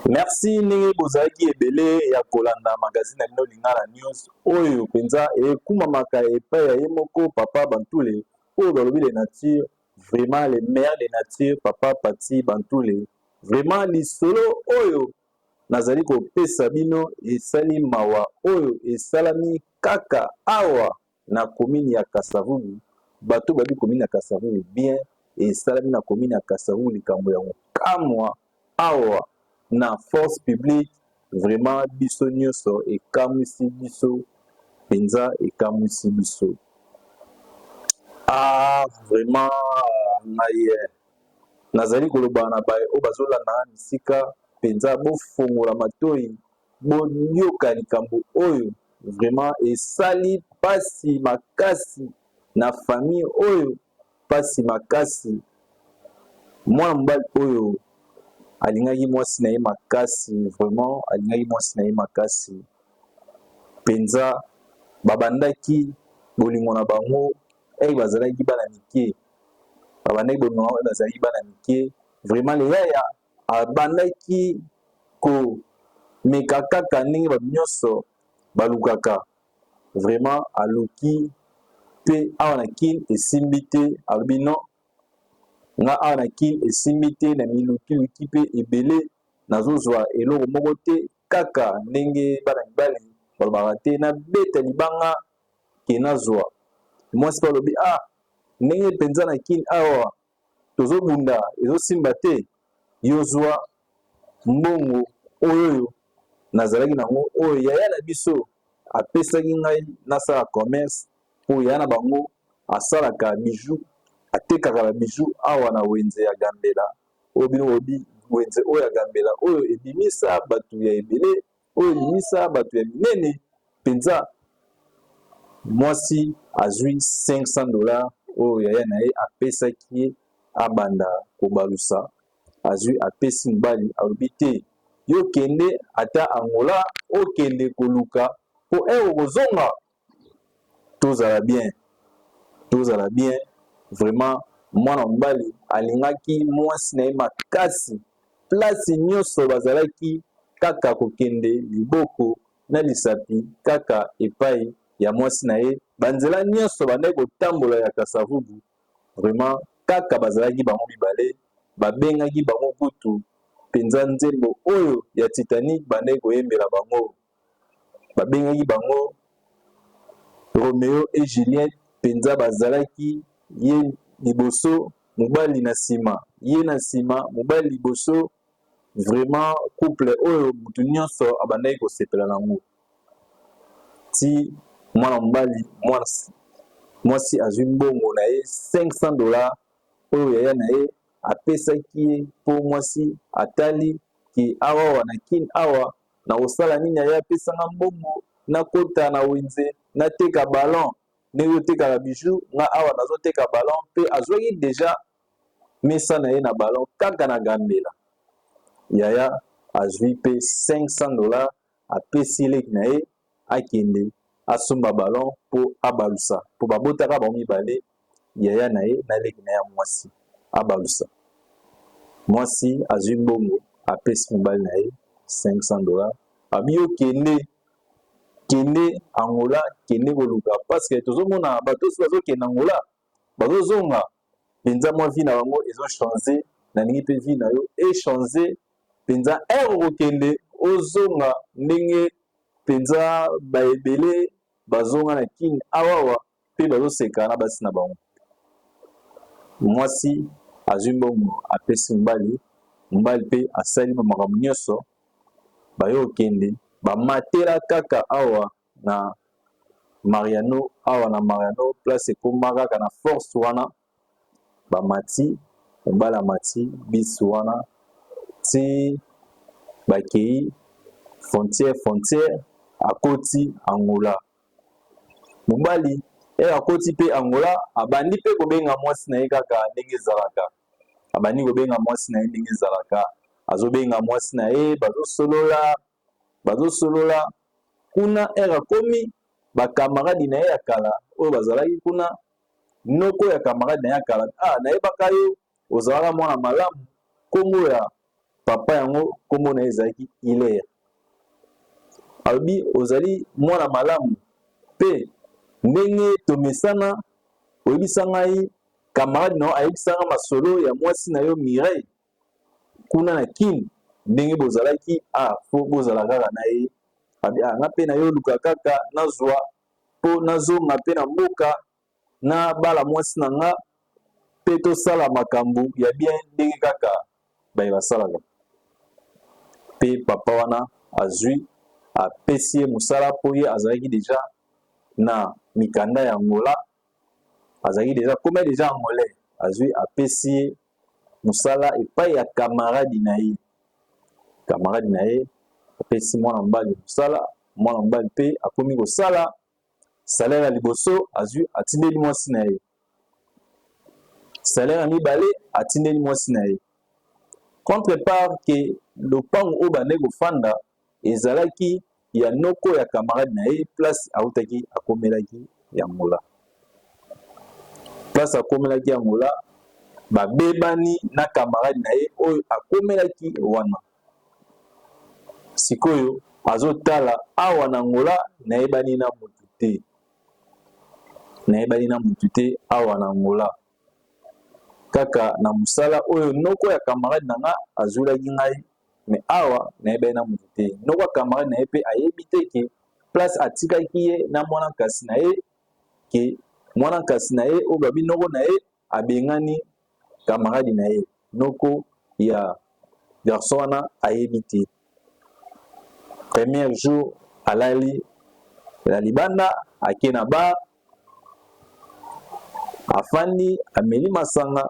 Merci ndenge bozalaki ebele ya kolanda magazine ya bino Lingala News oyo mpenza ekumamaka epai ya ye moko Papa Bantule oyo balobi le nature vraiment le meilleur de nature Papa Paty Bantule vraiment lisolo oyo nazali kopesa bino esali mawa oyo esalami kaka awa na commune ya kasavubu bato oyo bayebi commune ya kasavubu bien esalami na commune ya kasavubu likambo ya kokamwa awa na force publique vraiment biso nionso ekamwisi biso penza ekamwisi biso ah vraiment ngai eh, nazali koloba na baye oyo bazolanda na misika penza bofongola matoyi Boyoka likambo oyo vraiment esali pasi makasi na famille oyo pasi makasi mwana mobali oyo alingaki mwasi na ye makasi vraiment alingaki mwasi na ye makasi penza babandaki bolingo na bango ey bazalaki bana mike babandaki bolingo na bango bazalaki bana mike vraiment leyaya Abandaki komeka kaka ndenge bato nyonso balukaka. Vraiment aluki pe awa na kin esimbi te alobi non nga awa na kin esimbi te na miluki luki pe ebele nazozwa eloko moko te kaka ndenge bana mibali balobaka te nabeta libanga ke nazwa. Mwasi pe alobi ah ndenge penza na kin awa tozo bunda ezo simba te yo zwa mbongo oyoyo nazalaki na yango oyo yaya na biso apesaki ngai nasala commerce mpo yaya na bango asalaka bijou atekaka ba bijou awa na wenze ya gambela oyo bino boyebi wenze oyo ya gambela oyo ebimisa bato ya ebele oyo elimisa bato ya minene mpenza. Mwasi azwi 500 dollars oyo yaya na ye apesaki ye abanda kobalusa, azwi apesi mobali, alobi te yo kende ata Angola okende koluka mpo un okozonga tozala bien tozala bien vraiment mwana mobali alingaki mwasi na ye makasi place nyonso bazalaki kaka kokende liboko na lisapi kaka epai ya mwasi na ye banzela nyonso bandaki kotambola ya kasavubu vraiment kaka bazalaki bango mibale babengaki bango kutu mpenza nzembo oyo ya titanique bandaki koyembela bango babengaki bango Romeo et Juliette penza bazalaki ye liboso mobali na sima ye na sima mobali liboso vraiment couple oyo mutu nionso abandaki kosepela na yango ti mwana mobali mwasi mwasi azwi mbongo na ye 500 dollars oyo yaya na ye apesaki ye mpo mwasi atali ke awa wana kin awa Nakosala nini aye apesa nga mbongo nakota na wenze nateka ballon ndenge otekaka bijoux nga awa nazoteka ballon pe azwaki dejà mesa na ye na ballon kaka na gambela yaya azwi pe 500 dollars apesi leki na ye akende asomba ballon po abalusa po babotaka bango mibale yaya na ye na leki na ye ya mwasi abalusa mwasi azwi mbongo apesi mobali na ye 500 dollars abi yo kende kende angola kende koluka parce que tozomona bato osi bazokende angola bazozonga penza mwa vie na bango ezo change na lingi pe vie na yo e change penza heure okokende ozonga ndenge penza ba ebele bazonga na kin awawa pe bazo seka na basi na bango mwasi azwi mbongo apesi mobali mobali pe asali ba makambo nionso baye okende ba matela kaka awa na Mariano awa na Mariano place ekoma kaka na force wana bamati mobali amati bisi wana ti bakei frontière frontière akoti Angola mobali eye akoti mpe Angola abandi mpe kobenga mwasi na ye kaka ndenge ezalaka abandi kobenga mwasi na ye ndenge ezalaka azobenga mwasi na ye bazosolola Bazosolola kuna heure akomi ba camarade naye ya kala oyo bazalaki kuna noko ya camarade naye ya kala ah nayebaka yo ozalaka mwana malamu kombo ya papa yango kombo naye ezalaki Hilaire alobi ozali mwana malamu pe ndenge tomesana oyebisa ngai camarade nayo ayebisa ngai masolo ya mwasi nayo Mireille kuna na kin ndenge bozalaki a ah, fo bozala kaka na ye abi a ah, nga mpe na yo luka kaka nazwa mpo nazonga mpe na mboka na bala mwasi na nga mpe tosala makambo ya bien ndenge kaka baye basalaka mpe papa wana azwi apesi ye mosala mpo ye azalaki deja na mikanda ya angola azalaki deja koma deja angolais azwi apesi ye musala epayi ya camarade na ye. Camarade na ye apesi mwana mobali musala, mwana mobali pe akomi kosala salaire ya liboso azwi atindeli mwasi na ye. Salaire ya mibale atindeli mwasi na ye. Contre part que lopango oyo bandaki kofanda ezalaki ya noko ya camarade na ye place autaki akomelaki ya ngola place akomelaki ya ngola babebani na camarade na ye oyo akomelaki wana sikoyo azotala awa na ngola nayebani na motu te nayebani na motu te awa na ngola kaka na mosala oyo noko ya camarade na nga azwelaki ngai mais awa nayebani na mutu te noko ya camarade na ye mpe ayebi te ke place atikaki ye na mwana nkasi na ye ke mwana nkasi na ye oyo babi noko na ye abengani camarade na ye noko ya garçon wana ayebi te premier jour alali na libanda ake na bar afandi ameli masanga